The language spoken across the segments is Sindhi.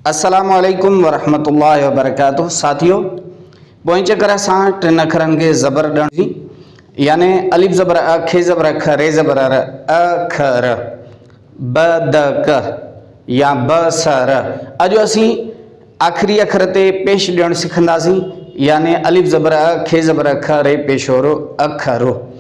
السلام عليڪم ورحمة الله وبرڪاته ساٿيو پوئين چڪر اسان ٽن اکرن کي زبر ڏڻ جي يعني الف زبر ا کي زبر اک ري زبر ر ا کھ ر ب د ڪ يا ب س ر اڄ اسين آخري اکر تي پيش ڏيڻ سکنداسين يعني الف زبر ا کي زبر اک ري پيشورو اک رو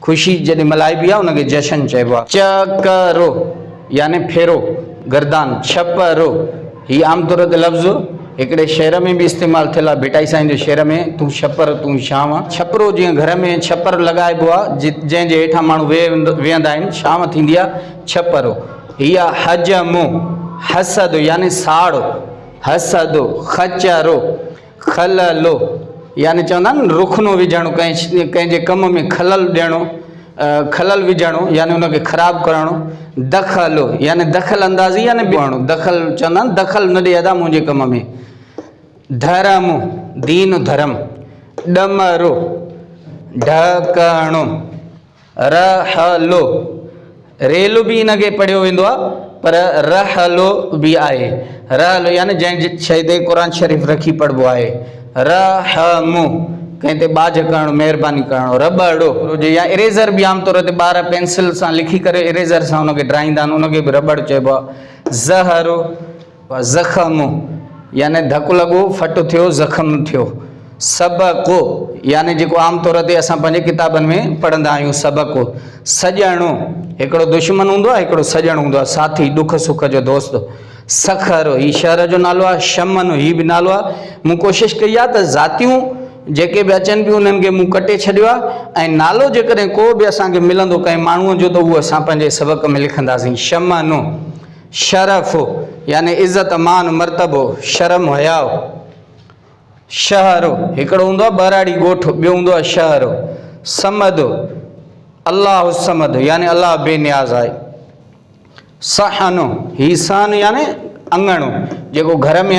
خوشي جڏهن ملهائبي آهي ان کي جشن چئبو آهي. چڪرو يعني ڦيرو، گردان، ڇپرو، هي عام طور تي لفظ هڪڙي شعر ۾ به استعمال ٿيل آهي ڀٽائي سائين جي شعر ۾ تون ڇپر تون ڇانو، ڇپرو جيئن گهر ۾ ڇپر لڳائبو آهي جنهن جي هيٺان ماڻهو ويهندا آهن ڇانو ٿيندي آهي ڇپرو هي آهي حجمو، حسد يعني ساڙو، حسدو، خچرو، خللو، يعني چوندا آهن نه رخنو وجهڻو، ڪنهن جي ڪم ۾ خلل ڏيڻو، خلل وجهڻو يعني ان کي خراب ڪرڻو، دخلو، يعني دخل اندازي يعني ٻيڻو، دخل چوندا آهن دخل نه ڏي ادا منهنجي ڪم ۾، ڌرم، دين ڌرم، ڏمرو، ڍڪڻو. ر ح ل ريل به ان کي پڙهيو ويندو آهي پر ر ح ل به آهي ر ح ل يعني جنهن شيء تي قرآن شريف رکي پڙهبو آهي ر ح م ڪنهن تي ٻاجهه ڪرڻ مهرباني ڪرڻ ر ٻ ڙو هجي يا اريزر به عام طور تي ٻار پينسل سان لکي ڪري اريزر سان ان کي ڊرائيندا آهن ان کي به ر ٻ ڙو چئبو آهي ز ه ر زخم يعني ڌڪ لڳو، ڦٽ ٿيو، زخم ٿيو. سبق يعني جيڪو عام طور تي اسان پنهنجي ڪتابن ۾ پڙهندا آهيون سبق. سڄڻ هڪڙو دشمن هوندو آهي هڪڙو سڄڻ هوندو آهي ساٿي ڏک سک جو دوست. سکر هي شهر جو نالو آهي شمن هي به نالو آهي مون ڪوشش ڪئي آهي ته ذاتيون جيڪي به اچن پيون انهن کي مون ڪٽي ڇڏيو آهي ۽ نالو جيڪڏهن ڪو به اسان کي ملندو ڪنهن ماڻهو جو ته اهو اسان پنهنجي سبق ۾ لکنداسين شمن. شرف، يعني عزت، مان، مرتبو، شرم، حياء. شهر، هڪڙو هوندو آهي ٻهراڙي ڳوٺ، ٻيو هوندو آهي شهر. صمد، الله الصمد، يعني الله بي نياز آهي. صحن، هي صحن يعني اڱڻو، جيڪو گهر ۾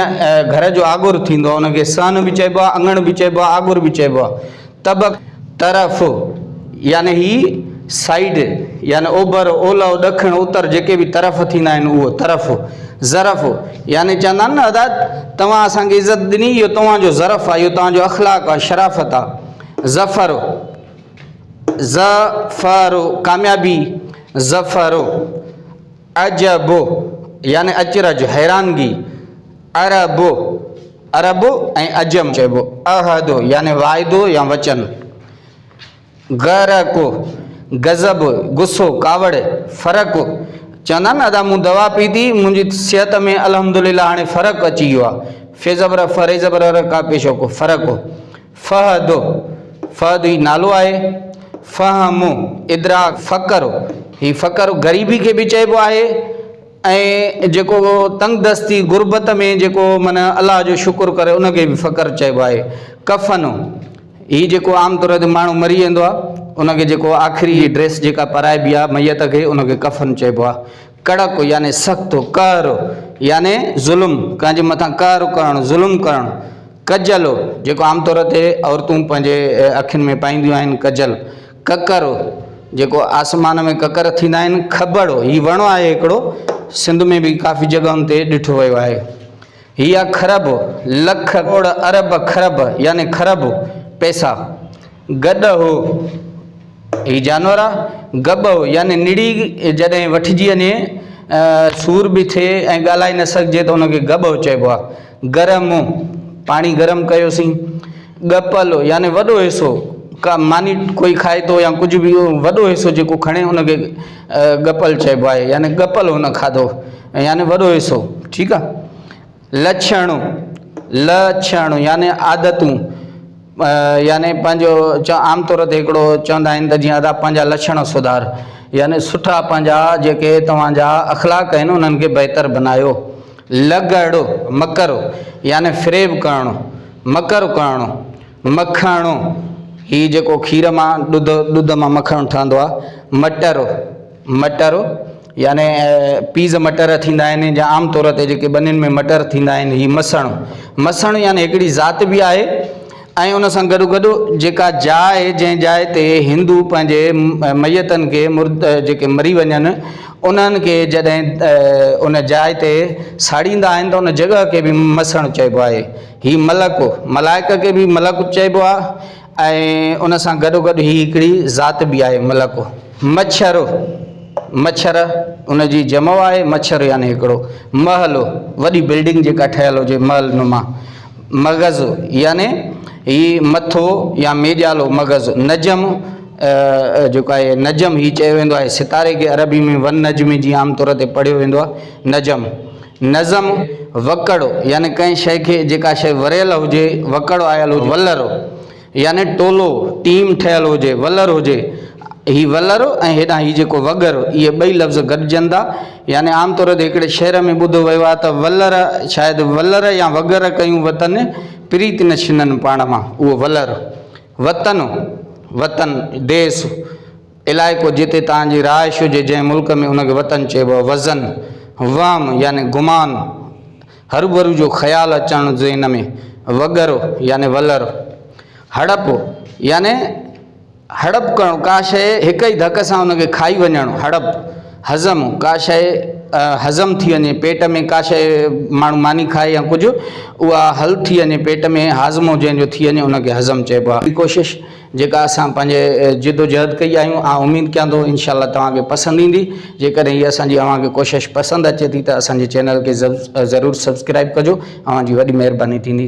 گهر جو آڳر ٿيندو آهي، ان کي صحن به چئبو آهي، اڱڻ به چئبو آهي، آڳر به چئبو آهي. طبق، طرف، يعني هي سائيڊ، يعني اوڀر، اولهه، ڏکڻ، اتر جيڪي به طرف ٿيندا آهن اهو، طرف، ظرف، يعني چوندا آهن نه ادا توهان اسان کي عزت ڏني اهو توهان جو ظرف آهي اهو توهان جو اخلاق آهي شرافت آهي. ظفر، ظ ف ر، ڪاميابي، ظفر، عجب، يعني اچرج، حيرانگي. عرب، عرب ۽ عجم چئبو. عهد يعني واعدو يا وچن. غرق، غضب، غصو، ڪاوڙ. فرق، چوندا آهن نه ادا مون دوا پيتي منهنجي صحت ۾ الحمدلله هاڻي فرق اچي ويو آهي. ف زبر ف ر زبر ر ڪاف پيش هو ڪو. فرق. فهد، فهد هي نالو آهي. فهم، ادراڪ، فقر، هي فقر غريبي کي به چئبو آهي. ۽ جيڪو تنگ دستي، غربت، ۾ جيڪو من الله جو شڪر ڪري ان کي به فقر چئبو آهي. ڪفن، هي جيڪو عام طور تي ماڻهو مري ويندو آهي ان کي جيڪو آخري جي ڊريس جيڪا پرائبي آهي ميت کي ان کي ڪفن چئبو آهي. ڪڙڪ، يعني سخت، قهر، يعني ظلم، ڪنهن جي مٿان قهر ڪرڻ، ظلم ڪرڻ. ڪجل، جيڪو عام طور تي عورتون پنهنجي اکين ۾ پائينديون آهن ڪجل. ڪڪر، جيڪو آسمان ۾ ڪڪر ٿيندا آهن، کٻڙ، هي وڻ آهي هڪڙو، سنڌ ۾ به ڪافي جڳهن تي ڏٺو ويو آهي. هي آهي کرب، لک، ڪروڙ، ارب، کرب يعني کرب، پئسا. گڏهو، هي جانور آهي، گٻهو يعني نڙي جڏهن وٺجي وڃي، سور به ٿئي ۽ ڳالهائي نه سگهجي ته ان کي گٻهو چئبو آهي. گرم، پاڻي گرم ڪيوسين. ڳپل، يعني وڏو حصو، ڪا ماني ڪوئي کائي ٿو يا ڪجهه به وڏو حصو جيڪو کڻي ان کي ڳپل چئبو آهي يعني ڳپل هن کاڌو يعني وڏو حصو ٺيڪ آهي. لڇڻ، لڇڻ، يعني عادتون يعني پنهنجو عام طور تي هڪڙو چوندا آهن ته جيئن ادا پنهنجا لڇڻ سڌار يعني سٺا پنهنجا جيڪي توهان جا اخلاق آهن انهن کي بهتر بنايو لڳڙو، مڪرو، يعني فريب ڪرڻو، مڪر ڪرڻو. مکڻو، هي جيڪو کير مان، ڏڌ، ڏڌ مان مکڻ ٺهندو آهي. مٽرو، مٽرو، يعني پيز مٽر ٿيندا آهن جا عام طور تي جيڪي ٻنين ۾ مٽر ٿيندا آهن، هي مسڻو. مسڻو يعني هڪڙي ذات به آهي. ۽ ان سان گڏوگڏ جيڪا جاء جنهن جاء تي هندو پنهنجي ميتن کي مرد جيڪي مري وڃن انهن کي جڏهن ان جاء تي ساڙيندا آهن ته ان جڳهه کي به مسڻ چئبو آهي هي ملڪ ملائڪ کي به ملڪ چئبو آهي ۽ ان سان گڏوگڏ هي هڪڙي ذات به آهي ملڪ مڇر مڇر ان جي جمع آهي مڇر يعني هڪڙو محل وڏي بلڊنگ جيڪا ٺهيل هجي محل نما مغز يعني هي مٿو يا ميڄالو مغز، نجم جيڪو آهي نجم هي چيو ويندو آهي ستاري کي عربي ۾ والنجم جي عام طور تي پڙهيو ويندو آهي نجم. نظم، وڪڙ يعني ڪنهن شيء کي جيڪا شيء وريل هجي، وڪڙ آيل هجي، ولر. يعني ٽولو، ٽيم، ٺهيل هجي، ولر هجي. هي ولر ۽ هيڏانهن هي جيڪو وڳر، اهي ٻئي لفظ گڏجن ٿا. يعني عام طور تي هڪڙي شعر ۾ ٻڌو ويو آهي ته، ولر شايد ولر يا وڳر ڪيون وطن، پريت نه ڇنن پاڻ مان. اهو ولر، وطن، وطن، ديس، علائقو جتي توهان جي رهائش هجي، جنهن ملڪ ۾ ان کي وطن چئبو آهي. وظن، وهم يعني گمان. هروڀرو جو خيال اچڻ ذهن ۾، وڳر يعني ولر، هڙپ يعني هڙپ ڪرڻ، ڪا شيء هڪ ئي ڌڪ سان ان کي کائي وڃڻ، هڙپ، هضم، ڪا شيء هضم ٿي وڃي، پيٽ ۾ ڪا شيء ماڻهو ماني کائي يا ڪجهه اها حل ٿي وڃي پيٽ ۾ هاضمو جنهن جو ٿي وڃي ان کي هضم چئبو آهي. ٻي ڪوشش، جيڪا اسان پنهنجي جدوجهد ڪئي آهيون آء اميد ڪيان ٿو انشاء الله توهان کي پسند ايندي جيڪڏهن هي اسان جي اوهان کي ڪوشش پسند اچي ٿي ته اسان جي چينل کي ضرور سبسڪرائب ڪجو اوهان جي وڏي مهرباني ٿيندي.